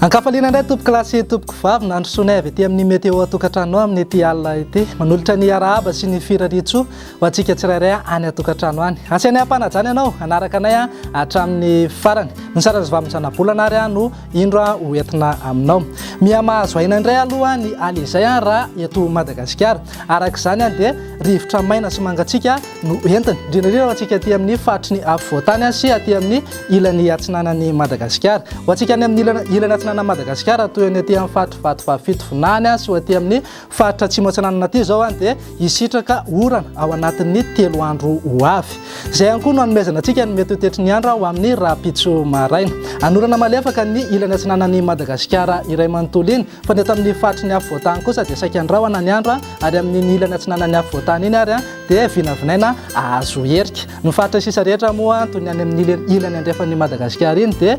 Ankafaliana indray tompoko lahy sy tompoko vavy nandrosoanay avy ety amin'ny météo atokantrano amin'ny ety alina ety. Manolotra ny arahaba sy ny firariantsoa ho antsika tsirairay any atokantrano any. Asianay am-panajana ianao hanaraka anay hatramin'ny farany. Ny saran'ny zavamin'ny zanabolana ary no Indro a ho entina aminao. Miha mahazo aina indray aloha ny aly izay a raha eto Madagasikara. Araka izany a dia rivotra maina sy mangatsiaka no entiny. Indrindra indrindra ho antsika aty amin'ny faritry ny afovoantany a sy aty amin'ny ilany atsinanan'i Madagasikara. Ho antsika any amin'ny ilany ilany atsinanan'i Madagasikara toy ny aty amin'ny faritry Vatovavy Fitovinany a sy ho aty amin'ny Faritra Atsimo Atsinanan'Aty izao dia hisitraka orana ao anatin'ny telo andro ho avy. Izay ihany koa no hanomezana antsika ny mety ho tetry ny andro ho amin'ny rahampitso maraina. Hanorana malefaka ny ilany atsinanan'i Madagasikara iray manontolo iny, fa ny eto amin'ny faritry ny afovoan-tany kosa dia saika andrahona ny andro ary amin'iny ilany atsinanan'ny afovoan-tany iny ary dia vinavinaina hahazo herika. Ny faritra sisa rehetra moa toy ny any amin'ny ilany andrefan'i Madagasikara iny dia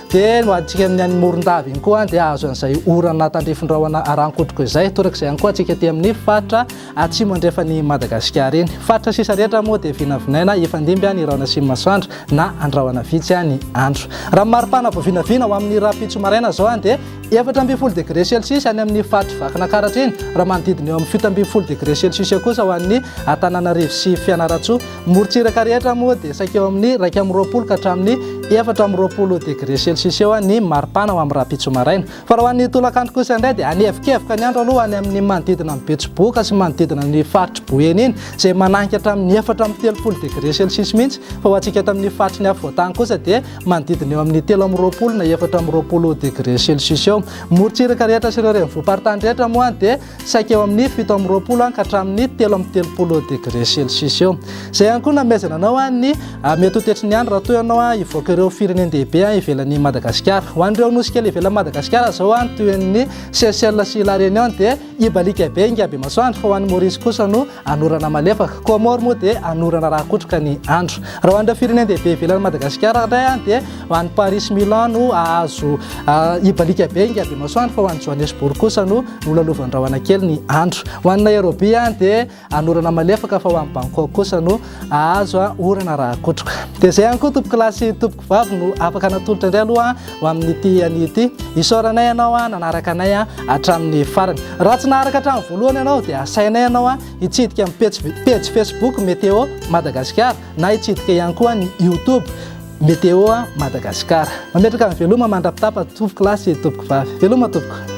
Dia no adintsika amin'ny any Morondava iny koa dia hahazo an'izay orana tandrifin-drahona ara-ankotroko izay. Torak'izay ihany koa antsika aty amin'ny faritra atsimo andrefan'i Madagasikara iny. Faritra sisa rehetra moa dia vinavinaina hifandimby ny rahona sy ny masoandro na an-drahona vitsy ny andro. Raha ny mari-pana vao vinavina ho amin'ny rahampitso maraina izao dia efatra ambin'ny folo degre celsius any amin'ny faritry Vakinakaratra iny, raha manodidina eo amin'ny fito ambin'ny folo degre celsius kosa ho an'ny Antananarivo sy Fianarantsoa. Morontsiraka rehetra moa dia saika eo amin'ny iraika amby roapolo ka hatramin'ny efatra amby roapolo degré celsius eo ny maripana ho amin'ny rahampitso maraina. Fa raha ho an'ny tolakandro kosa indray dia hanevokevoka ny andro aloha any amin'ny manodidina ny Betsiboka sy manodidina ny faritry Boeny iny izay mananika hatramin'ny efatra amby telopolo degré celsius mihitsy fa ho antsika eto amin'ny faritry ny afovoantany kosa dia manodidina eo amin'ny telo amby roapolo na efatra amby roapolo degré celsius eo. Morontsiraka rehetra sy ireo renivohim-paritany rehetra moa dia saika eo amin'ny fito amby roapolo an ka hatramin'ny telo amby telopolo degré celsius eo. Izay ihany koa namezana anao an ny ah, mety ho tetry ny andro raha toa ianao an hivoaka ireo firenen-dehibe an ivelan'i Madagasikara. Ho an'ireo nosy kely ivelan'i Madagasikara izao an toy ny Seychelles sy La Réunion dia hibalika be ingahy Bemasoandro fa ho an'i Maurice kosa no Anorana malefaka. Comores moa dia anorana raha akotroka ny andro. Raha ho an'ireo firenen-dehibe ivelan'i Madagasikara indray dia ho an'i Paris Milan no ahazo hibalika be ingahy Bemasoandro fa ho an'i Johannesburg kosa no nolalovan'ny rahona kely ny andro. Ho an'i Nairobi dia anorana malefaka fa ho an'i Bangkok kosa no ahazo orana raha akotroka. Dia izay ihany koa tompokolahy sy tompokolahy. Ho avy no afaka natolotra indray aloha ho amin'ity anio ity. Isaoranay ianao nanaraka anay hatramin'ny farany. Raha tsy naharaka hatramin'ny voalohany ianao dia asainay ianao hitsidika ny pejy, pejy Facebook Météo Madagasikara na hitsidika ihany koa ny YouTube Météo Madagasikara. Mametraka ny veloma mandrapitapa tompoko lahy sy tompoko vavy. Veloma tompoko.